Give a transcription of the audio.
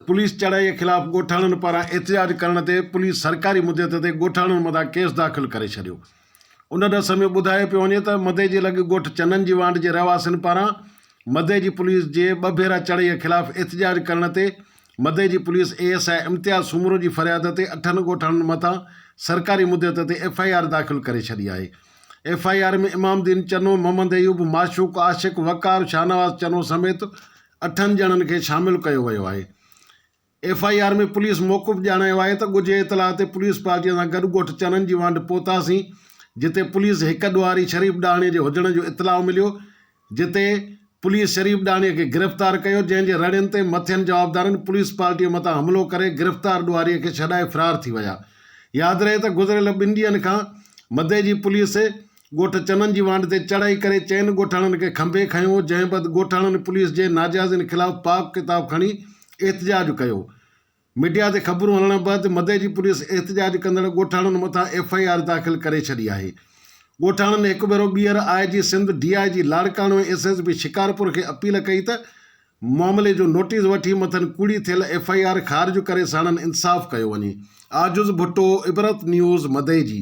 Police چڙهائي خلاف ڳوٺاڻن پاران احتجاج ڪرڻ تي پوليس سرڪاري مدت تي ڳوٺاڻن مٿان ڪيس داخل ڪري ڇڏيو ان ڏس ۾ ٻڌايو پيو وڃي ته مدي جي لڳ ڳوٺ چنن جي وانڊ جي رهواسين پاران مدي جي پوليس جي ٻه ڀيرا چڙهئي خلاف احتجاج ڪرڻ تي مدي جي police A S I Imtiaz Soomro جي فرياد تي اٺن ڳوٺاڻن مٿان سرڪاري مديت تي ايف آء آر داخل ڪري ڇڏي آهي F I R ۾ Imam Din Channo Muhammad Ayub Mashooq Ashiq Waqar Shahnawaz Channo سميت اٺن ڄڻن کي شامل ڪيو ويو آهي ايف آء آر ۾ پوليس موقف ڄاڻايو آهي ته ڳجهي اطلاع تي پوليس پارٽيء سان گڏ ڳوٺ چنن جي وانڍ پهتاسين جتي پوليس هڪ ڏوهاري شريف ڏاهڻي جي هجڻ جو اطلاع مليو جتي پوليس شريف ڏاهڻي کي گرفتار ڪيو جنهن جي رڙين تي مٿين جوابدارن پوليس پارٽيء مٿان حملو ڪري گرفتار ڏوهاري کي ڇڏائي فرار ٿي ويا ياد رهي ته گذريل ٻن ڏينهن کان مدي جي پوليس ڳوٺ چنن جي وانڍ تي چڙهائي ڪري چئن ڳوٺاڻن کي کنڀي کنيو، جنهن بعد ڳوٺاڻن پوليس جي ناجائزين خلاف پاڪ ڪتاب کڻي احتجاج ڪيو. ميڊيا تي خبرون هلڻ بعد مدئي جي پوليس احتجاج ڪندڙ ڳوٺاڻن مٿان ايف آء آر داخل ڪري ڇڏي آهي. ڳوٺاڻن هڪ ڀيرو ٻيهر I G Sindh, D I G Larkana ۽ S S P Shikarpur کي اپيل ڪئي ته معاملي جو نوٽيس وٺي مٿن ڪوڙي ٿيل ايف آء آر خارج ڪري ساڻن انصاف ڪيو وڃي. عاجز ڀٽو، عبرت نيوز، مدئي جي.